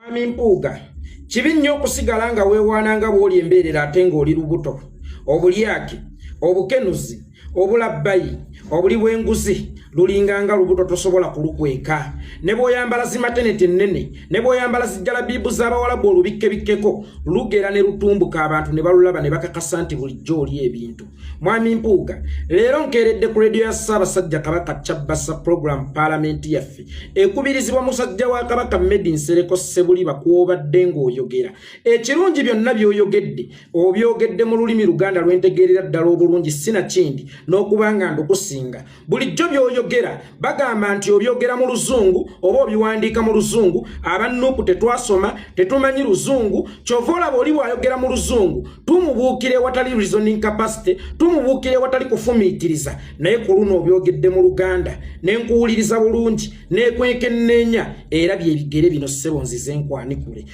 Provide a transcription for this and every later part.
Mwami Mpuuga, kibi nnyo okusigala nga weewaana nga bw'oli embeerera ate ng'oli lubuto, obulyake, obukenuzi, obulabbayi, obuli bw'enguzi, lulinga nga lubuto tosobola kulukweka ne bwoyambala zimateneti ennene ne bwoyambala zijjalabiibu z'abawalabu olubikkebikkeko lugera ne lutumbuka abantu ne balulaba ne bakakasa nti bulijjo oli ebintu mwami mpuuga leero nkeeredde ku rediyo ya ssaabasajja kabaka kyabbasa pulogulaamu paalamenti yaffe ekubirizibwa musajja wa kabaka medi nsereko ssebuliba kwobadde ng'oyogera ekirungi byonna by'oyogedde obyogedde mu lulimi luganda lwentegeerera ddala obulungi sinakindi n'okuba nga ndukusinga bulijjo byoyogera bagamba nti obyogera mu luzungu oba obiwandiika mu luzungu abannuuku tetwasoma tetumanyi luzungu kyova olaba oli bwayogera mu luzungu tumubuukira ewatali reasoning capacity tumubuukira ewatali kufumiitiriza naye ku luno obyogedde mu luganda ne nkuwuliriza bulungi nekwekenneenya era byebigere bino ssebo nzize nkwanikule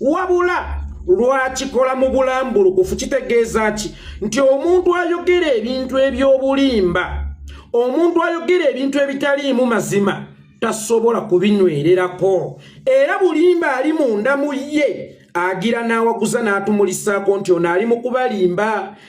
wabula lwakikola mu bulambulukufu kitegeeza ki nti omuntu ayogera ebintu eby'obulimba omuntu ayogera ebintu ebitaliimu mazima tasobola kubinywererako era bulimba ali munda mu ye agira n'awaguza n'atumulisaako nti ono ali mu kubalimba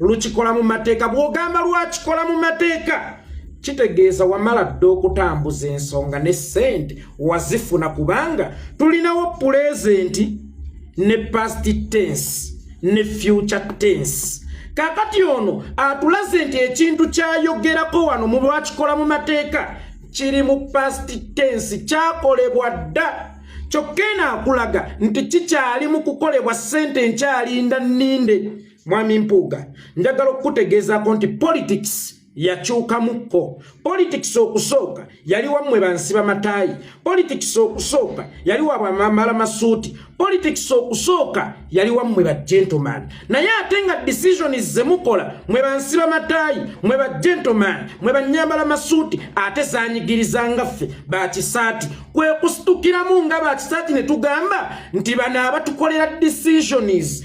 lukikola mu mateeka bw'ogamba lwakikola mu mateeka kitegeeza wamala dda okutambuza ensonga ne ssente wazifuna kubanga tulinawo pulezenti ne past tense ne future tense kakati ono atulaze nti ekintu kyayogerako wano mu lwakikola mu mateeka kiri mu past tense kyakolebwa dda kyokka eno akulaga nti kikyali mu kukolebwa ssente nkyalinda nninde mwami mpuuga njagala okukutegeezaako nti politics yakyukamukko politics okusooka yali wammwe bansiba mataayi politics okusooka yali wabwamamala masuuti politics okusooka yali wammwe ba gentleman naye ate nga decisions zemukola mwe bansiba mataayi mwe ba gentleman mwe banyambala masuuti ate zanyigiriza ngaffe bakisaati kwe kusitukiramu nga bakisaati ne tugamba nti bano abatukolera decisions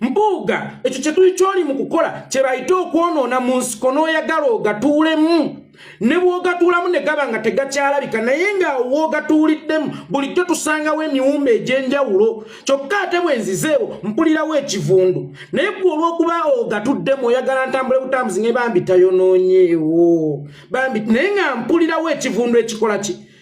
mpuuga ekyo kyetuli kyoli mu kukola kyebayite okwonoona mu nsiko n'oyagala ogatuulemu ne bwogatuulamu ne gaba nga tegakyalabika naye ngaawo woogatuuliddemu bulijjo tusangawo emiwumba egy'enjawulo kyokka ate bwe nzizeewo mpulirawo ekivundu naye gwe olw'okuba ogatuddemu oyagala ntambule butambuzi ne bambi tayonoonyeewo bambi naye nga mpulirawo ekivundu ekikola ki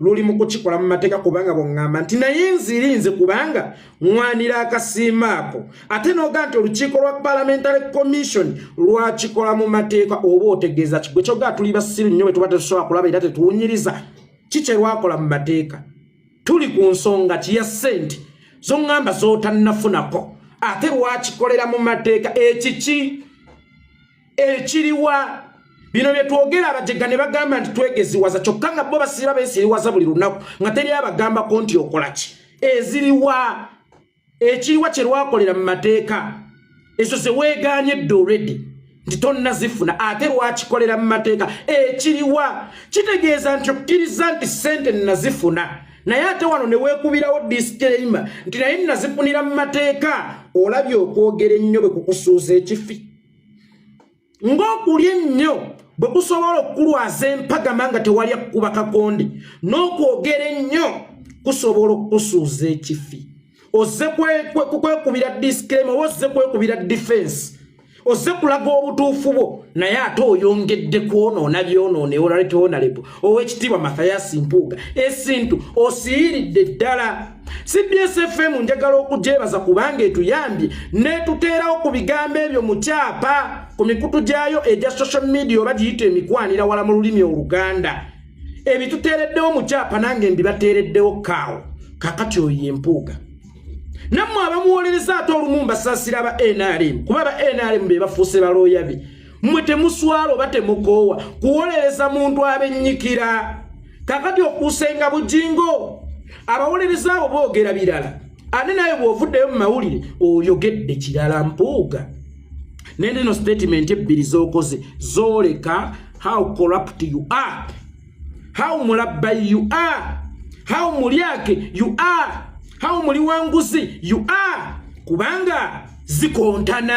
luli mu kukikola mu mateeka kubanga bwongamba nti naye nzirinze kubanga ŋwanira akasiima ako ate noga nti olukiiko lwa parliamentary commission lwakikola mu mateeka oba otegeeza kigwe kyoga tuli basiru nnyo bwetuba tetusobola kulaba era tetuwunyiriza kikye lwakola mu mateeka tuli ku nsonga kiya sente zoŋamba zotannafunako ate lwakikolera mu mateeka ekiki ekiriwa bino byetwogera abajega ne bagamba nti twegeziwaza kyokka nga bo basiba besiriwaza buli lunaku nga teri abagambako nti okola ki eziriwa ekiriwa kye lwakolera mu mateeka ezo ze weegaanye dde olredi nti tonnazifuna ate lwakikolera mu mateeka ekiriwa kitegeeza nti okkiriza nti ssente nazifuna naye ate wano ne weekubirawo disclaima nti naye nazifunira mu mateeka olabye okwogera ennyo bwe kukusuuza ekifi ng'okulya ennyo bwe kusobola okukulwaza empagama nga tewali akukuba kakonde n'okwogera ennyo kusobola okukusuuza ekifi ozze kwekubira disclaim oba ozze kwekubira defense ozze kulaga obutuufu bwo naye ate oyongedde kwonoona byonoonewo olaletewo nalebo ow'ekitiibwa mathayasi mpuuga esintu osiyiridde ddala cbsfm njagala okugyebaza kubanga etuyambye netuteerawo ku bigambo ebyo mu kyapa ku mikutu gyayo egya social media oba giyita emikwanira wala mu lulimi oluganda ebituteereddewo mu kyapa nange mbibateereddewo kaawo kakati oyo yempuuga nammwe abamuwolereza ate olumu mbasaasira ba nrm kuba ba nrm be bafuuse balooyabe mwe temuswala oba temukoowa kuwolereza muntu abennyikira kakati okuusenga bujingo abawolereza abo boogera birala ate naye bw'ovuddeyo mu mawulire oyogedde kirala mpuuga naye neno statement ebbiri z'okoze zooleka how corrupt you are how mulabbayi you are how mulyake you are how muliwanguzi you are kubanga zikontana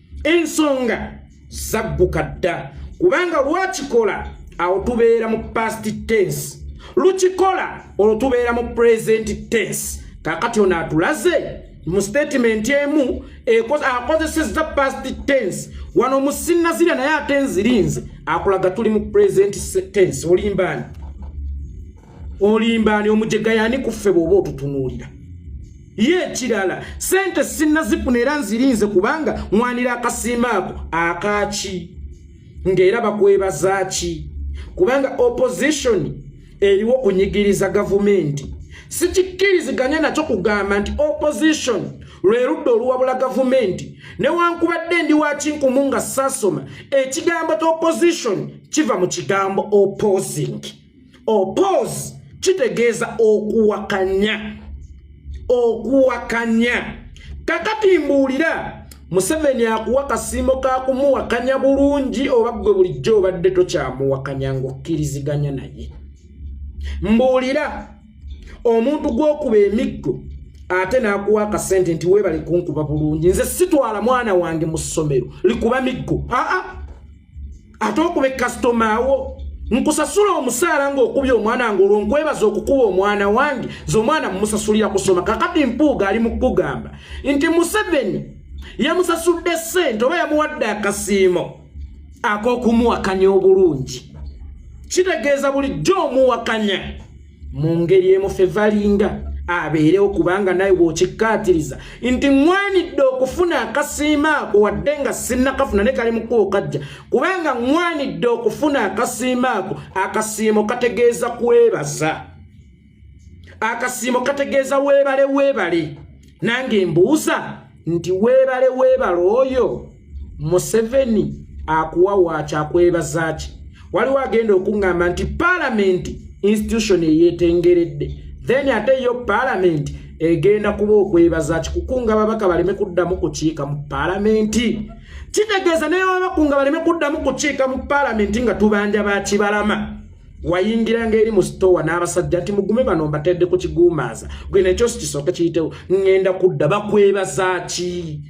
ensonga zagguka dda kubanga lwakikola awo tubeera mu past tense lukikola olwo tubeera mu present tense kakati ono atulaze mu statement emu akozesezza past tense wano musinazira naye ate nzirinze akulaga tuli mu present tense olimbaani olimbaani omujega yani kuffe bwoba otutunuulira ye ekirala sente sinnazifuna era nzirinze kubanga mwanira akasimba ako akaaki ng'era bakwebazaaki kubanga opposition eriwo kunyigiriza gavumenti sikikkiriziganya nakyo kugamba nti opposition lwe ludda oluwabula gavumenti newankubadde ndi wakinkumu nga saasoma ekigambo ta opposition kiva mu kigambo opposing opose kitegeeza okuwakanya okuwakanya kakati mbuulira museveni akuwa kasiimo ka kumuwakanya bulungi oba ggwe bulijjo obadde tokyamuwakanya ng'okkiriziganya naye mbuulira omuntu gw'okuba emiggo ate n'akuwa akasente nti weebale kunkuba bulungi nze sitwala mwana wange mu ssomero likuba miggo aa ah, ah. ate okuba ekasitoma wo nkusasula omusaala ngaokubya omwana wange olwo nkwebaza okukuba omwana wange ze omwana mumusasulira kusoma kakati mpuuga ali mukugamba nti museveni yamusasudde sente oba yamuwadde akasiimo akokumuwakanya obulungi kitegeeza bulijjo omuwakanya mu ngeri emu ffe valinga abeerewo kubanga naye bw'okikkaatiriza nti ŋwanidde okufuna akasiima ako wadde nga sinnakafuna ne kali mukubo kajja kubanga ŋwanidde okufuna akasiima ako akasiimo kategeeza kwebaza akasiimo kategeeza weebale weebale nange mbuuza nti weebale weebale oyo museveni akuwa waaki akwebazaaki waliwo agenda okuŋŋamba nti palamenti institution eyetengeredde then ate yo palamenti egenda kuba okwebaza kikukunga babaka baleme kuddamu kukiika mu palamenti kitegeeza naye babakunga baleme kuddamu kukiika mu palamenti nga tubanja bakibalama wayingiranga eri mu sitoowa n'abasajja nti mugume bano mbatedde ku kiguumaaza gwe nekyosi kisooke kiyitewo ŋŋenda kudda bakwebaza ki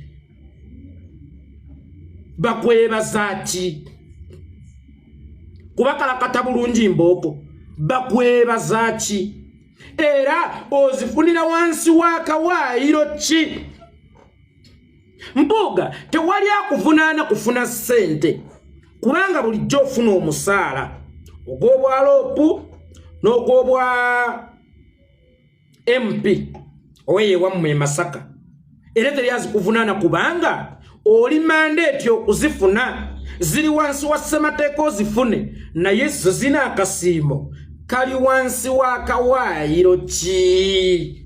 bakwebaza ki kubakalakata bulungi mbooko bakwebaza ki era ozifunira wansi w'akawaayiro ki mpuuga tewali akuvunaana kufuna ssente kubanga bulijjo ofuna omusaala ogw'obwaloopu n'ogw'obwa mp oweyewammwe e masaka era teri azikuvunaana kubanga oli mandeeti okuzifuna ziri wansi wa ssemateeka ozifune naye zo zina akasiimo kali wansi w'akawaayiro ki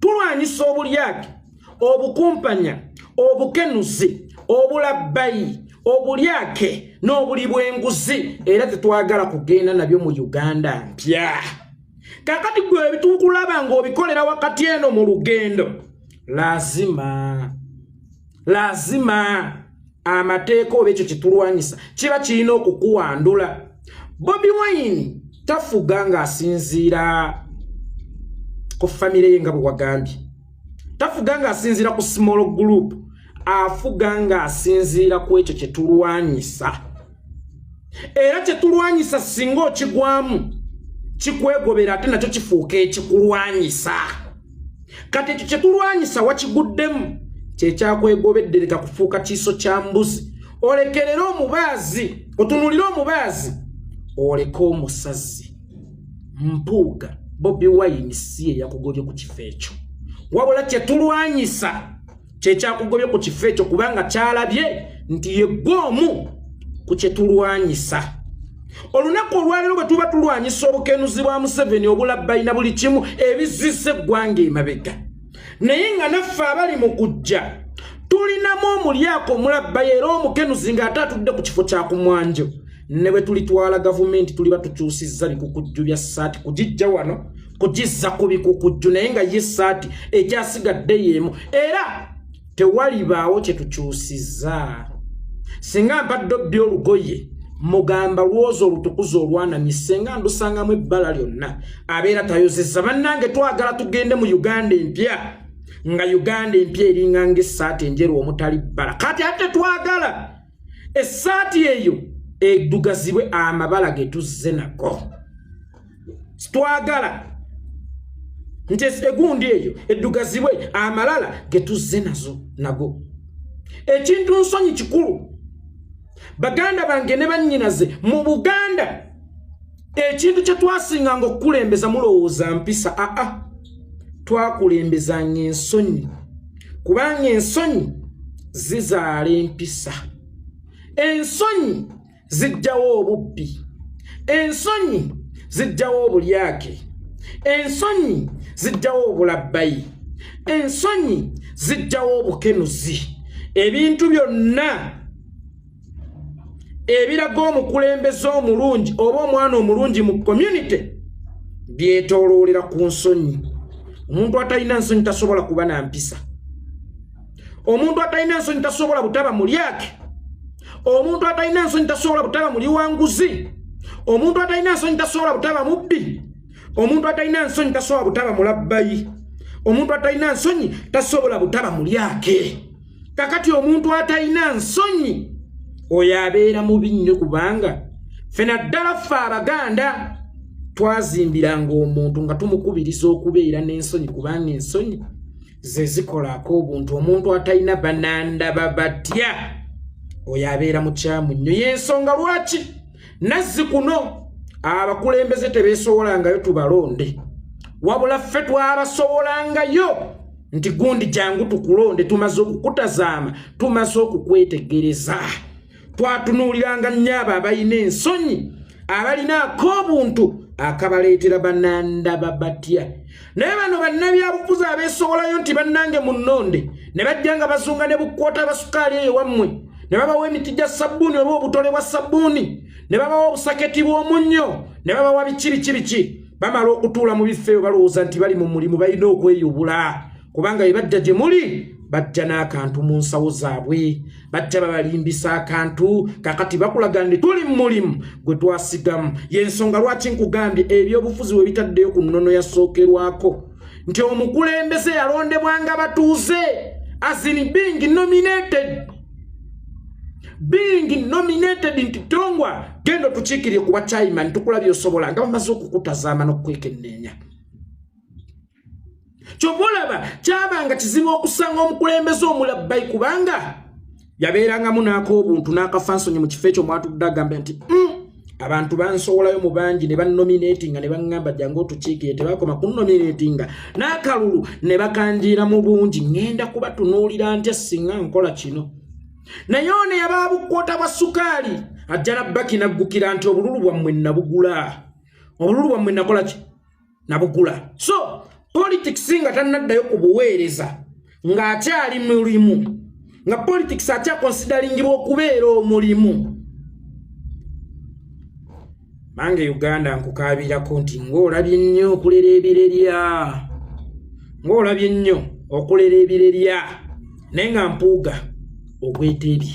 tulwanyisa obulyake obukumpanya obukenuzi obulabbayi obulyake n'obuli bw'enguzi era tetwagala kugenda nabyo mu uganda mpya kakati gwe ebitukulaba ng'obikolera wakati eno mu lugendo lazima lazima amateeka oba ekyo kyetulwanyisa kiba kirina okukuwandula bobi wine tafuga ng'asinziira ku famire ye nga bwe wagambye tafuga ng'asinziira ku small group afuga ng'asinziira ku ekyo kyetulwanyisa era kyetulwanyisa singa okigwamu kikwegobera ate nakyo kifuuka ekikulwanyisa kati ekyo kyetulwanyisa wakiguddemu kyekyakwegobeddereka kufuuka kiiso kya mbuzi olekerere omubaazi otunulire omubaazi oleke omusazi mpuuga bobi wayini si eyakugobye ku kifo ekyo wabula kyetulwanyisa kyekyakugobye ku kifo ekyo kubanga kyalabye nti yegwe omu ku kyetulwanyisa olunaku olwalero bwe tuba tulwanyisa obukenuzi bwa museveni obulabbalina buli kimu ebizisa eggwanga emabega naye nga naffe abali mu kujja tulinamu omulyako omulabbayi era omukenuzi ng'ate atudde ku kifo kya kumwanjo ne bwe tulitwala gavumenti tuliba tukyusizza bikukujju bya ssaati kugijja wano kugizza ku bikukujju naye nga ye saati ekyasigadde yeemu era tewalibaawo kye tukyusiza singa mbadde obbi olugoye mugamba lwoza olutukuza olwanamye senga ndusangamu ebbala lyonna abeera tayozeza bannange twagala tugende mu uganda empya nga uganda empya eringa ngaesaati enjeru omutali bbala kati ate twagala esaati eyo edugazibwe amabala getuzze nago twagala nti egundi eyo eddugazibwe amalala ge tuzze nazo nago ekintu nsonyi kikulu baganda bange ne bannyinaze mu buganda ekintu kye twasinganga okukulembeza mulowooza mpisa aa twakulembezanga ensonyi kubanga ensonyi zizaala empisa ensonyi zijjawo obubbi ensonyi zijjawo obulyake ensonyi zijjawo obulabbayi ensonyi zijjawo obukenuzi ebintu byonna ebiraga omukulembeze omulungi oba omwana omulungi mu community byetoloolera ku nsonyi omuntu atalina nsonyi tasobola kuba na mpisa omuntu atalina ensonyi tasobola butaba mulyake omuntu atalina ensonyi tasobola butaba muli wanguzi omuntu atalina ensonyi tasobola butaba mubbi omuntu atalina nsonyi tasobola butaba mulabbayi omuntu atalina nsonyi tasobola butaba mulyake kakati omuntu atalina nsonyi oyo abeera mubi nnyo kubanga fe naddala ffe abaganda twazimbiranga omuntu nga tumukubiriza okubeera n'ensonyi kubanga ensonyi ze zikola ak'obuntu omuntu atalina banandaba batya oyo abeera mukyamu nnyo y'ensonga lwaki nazzi kuno abakulembeze tebeesowolangayo tubalonde wabula ffe twabasowolangayo nti gundi jangu tukulonde tumaze okukutazaama tumaze okukwetegereza twatunuuliranga nnyo abo abalina ensonyi abalina ak'obuntu akabaleetera banandaba batya naye bano bannabyabufuzi abeesowolayo nti bannange mu nnonde ne bajja nga bazunga ne bukwota abasukaali eyo wammwe ne babawa emiti gya sabbuuni oba obutole bwa sabbuuni ne babawa obusaketi bw'omunnyo ne babawa biki biki biki bamala okutuula mu bifo eyo balowooza nti bali mu mulimu balina okweyubula kubanga bye bajja gye muli bajja n'akantu mu nsawo zaabwe bajja babalimbisa akantu kakati bakulaga nti tuli mu mulimu gwe twasigamu y'ensonga lwaki nkugambye ebyobufuzi we bitaddeyo ku nnono yasookerwako nti omukulembeze yalondebwanga batuuze asini being nominated being nominated nti tongwa genda otukiikirire kuba chaiman tukula byosobola nga bamaze okukutazaama n'okukwekenneenya kyova olaba kyabanga kizibu okusanga omukulembeze omulabbayi kubanga yabeerangamu n'ak'obuntu n'akafansonyi mu kifo ekyo mwatudde agambe nti mm, abantu bansowolayo mu bangi ne bannominatinga ne baŋŋamba jangu otukiikire tebakoma kunnominatinga n'akalulu ne bakanjiira mu bungi ŋŋenda kubatunuulira ntya singa nkola kino naye ono yaba bukwota bwa sukaali ajja nabbaki naggukira nti obululu bwammwe nabugula obululu bwammwe nakola ki nabugula so politics nga tanaddayo ku buweereza ng'akyali mulimu nga politics akyakonsidaringibwa okubeera omulimu mange uganda nkukaabirako nti ng'olabye nnyo okulera ebirerya ng'olabye nnyo okulera ebirerya naye nga mpuuga ogweteebye